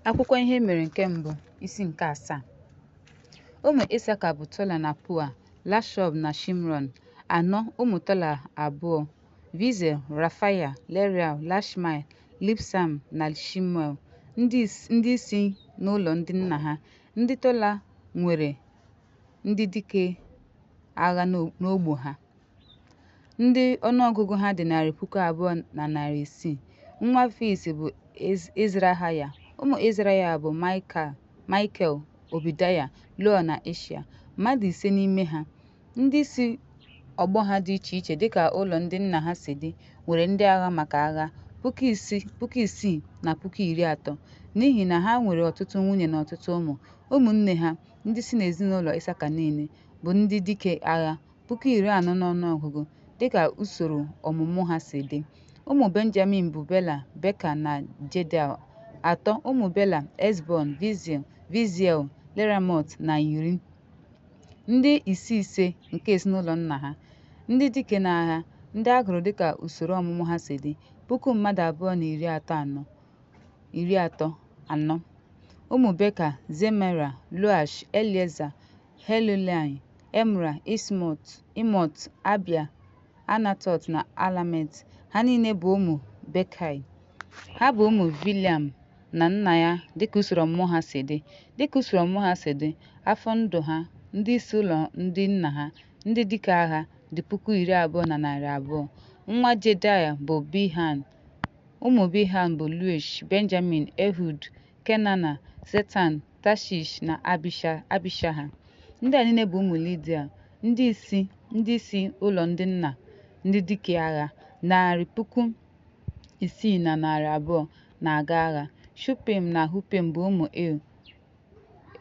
Akwụkwọ Ihe Mere nke Mbụ, isi nke asaa. Ụmụ Isaka bụ Tola na Pua, Lashọb na Shimron, anọ ụmụ Tola abụọ, Vizel, Rafaya, Leriel, Lashmai, Libsam na Shimuel, ndị is- ndị isi n'ụlọ ndị nna ha. Ndị Tola nwere ndị dike agha n'ọ- n'ọgbọ ha. ndị ọnụọgụgụ ha dị narị puku abụọ na narị isii nwa fis bụ izrahaya ụmụ izrahaya bụ michael obidaya loel na ishia mmadụ ise n'ime ha ndị isi ọgbọ ha dị iche iche dịka ụlọ ndị nna ha si dị nwere ndị agha maka agha puku isii na puku iri atọ n'ihi na ha nwere ọtụtụ nwunye na ọtụtụ ụmụ ụmụnne ha ndị si n'ezinụlọ isaka niile bụ ndị dike agha puku iri anọ n'ọnụọgụgụ dịka usoro ọmụmụ ha si dị. Ụmụ Benjamin bụ Bela, Beka na Jedel, atọ, ụmụ Bela, Ezbon, Viziel, Viziel, Leramot na Iri. Ndị isi ise nke ezinụlọ nna ha, ndị dike n'agha, ndị a gụrụ dịka usoro ọmụmụ ha si dị, puku mmadụ abụọ na iri atọ anọ iri atọ anọ. Ụmụ Beka, Zemera, Loash, Elieza, Helulaị, Emra, Ismot, Imot, Abia, Anatot na Alamet. Ha niile bụ ụmụ Bekai. Ha bụ ụmụ Biliam na nna ya dịka usoro ọmụmụ ha si dị. Dịka usoro ọmụmụ ha si dị, afọ ndụ ha, ndị isi ụlọ ndị nna ha, ndị dike agha dị puku iri abụọ na narị abụọ. Nwa Jedaya bụ Bihan. Ụmụ Bihan bụ Luish, Benjamin, Ehud, Kenana, Zetan, Tashish na Abishaha. Ndị a niile bụ ụmụ Lidial, ndị isi ndị isi ụlọ ndị nna ndị dike agha narị puku isii na narị abụọ na-aga agha. Shupim na Hupim bụ ụmụ Il,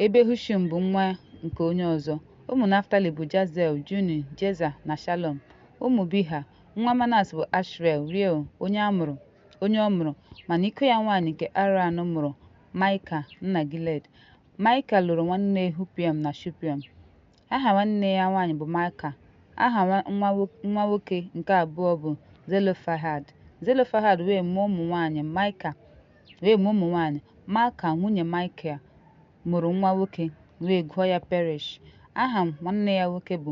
ebe Hushim bụ nwa nke onye ọzọ. Ụmụ Naftali bụ Jazel, Juni, Jeza na Shalom. Ụmụ Biha, nwa Manas bụ Ashrel, Riel, onye a mụrụ onye ọ mụrụ mana iko ya nwaanyị nke Aran mụrụ Maịka nna Giled. Maịka lụrụ nwanne Hupim na Shupim. Aha nwanne ya nwaanyị bụ Maịka. Aha nwa nwoke nke abụọ bụ Zelofehad. Zelofehad wee mụọ ụmụ nwaanyị Maịka wee mụọ ụmụ nwaanyị Maịka nwunye Maịkel mụrụ nwa nwoke wee gụọ ya Perish. Aha nwanne ya nwoke bụ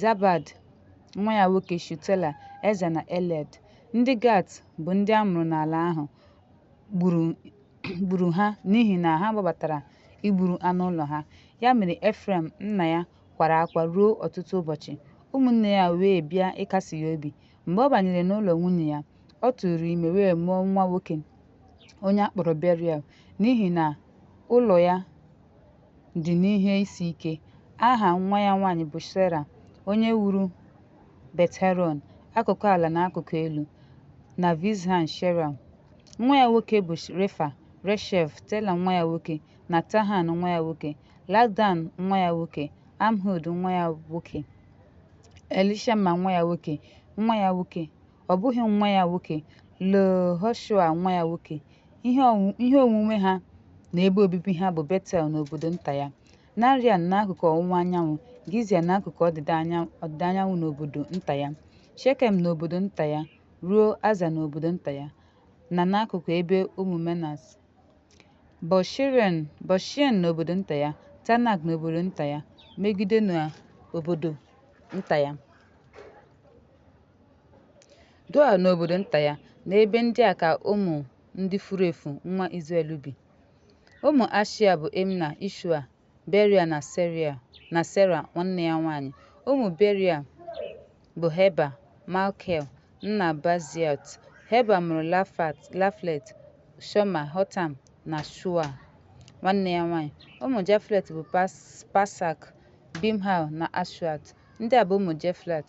Zabad, nwa ya nwoke Shutela, Eza na Eled. Ndị Gat bụ ndị a mụrụ n'ala ahụ gburu gburu ha n'ihi na ha gbabatara igburu anụ ụlọ ha. Ya mere Efrem nna ya kwara akwa ruo ọtụtụ ụbọchị. Ụmụnne ya wee bịa ịkasi ya obi. Mgbe ọ banyere n'ụlọ nwunye ya, ọ tụụrụ ime wee mụọ nwa nwoke onye a kpọrọ Beriel n'ihi na ụlọ ya dị n'ihe isi ike. Aha nwa ya nwaanyị bụ Sera, onye wuru Bet-Heron, akụkụ ala na akụkụ elu, na Vizhan Sheram. Nwa ya nwoke bụ Refa, Reshef, Tela nwa ya nwoke, na Tahan nwa ya nwoke, Ladan nwa ya nwoke, Amhud nwa ya nwoke, Elishama nwa ya nwoke, nwa ya nwoke ọ bụghị nwa ya nwoke, Lehoshua nwa ya nwoke. Ihe ọnwụ- ihe onwunwe ha na ebe obibi ha bụ Betel na obodo nta ya, Narian n'akụkụ ọwụwa anyanwụ, Gizia n'akụkụ ọdịda anya- ọdịda anyanwụ na obodo nta ya, Shekem na obodo nta ya, ruo Aza na obodo nta ya, na n'akụkụ ebe ụmụ Menas. Bọshiren Bọshien na obodo nta ya, Tanak na obodo nta ya, Megido na obodo nta ya. Doa na obodo nta ya, n'ebe ndị a ka ụmụ ndị furu efu nwa Izrel bi. Ụmụ Ashia bụ Imna, Ishua, Beria na Seria na Sera nwanne ya nwaanyị. Ụmụ Beria bụ Heba, Malkel, nna Baziot. Heba mụrụ Lafat, Laflet, Shoma, Hotam na Shua nwanne ya nwaanyị. Ụmụ Jaflet bụ Pas, Pasak, Bimhal na Ashuat. Ndị a bụ ụmụ Jeflet.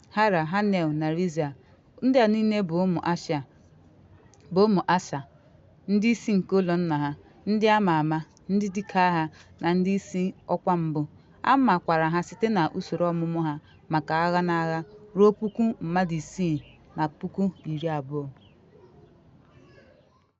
Hara, Hanel na Rizia. Ndị a niile bụ ụmụ Asa, bụ ụmụ Asha, ndị isi nke ụlọ nna ha, ndị a ma ama, ndị dike agha, na ndị isi ọkwa mbụ. A makwara ha site na usoro ọmụmụ ha maka agha na agha ruo puku mmadụ isii na puku iri abụọ.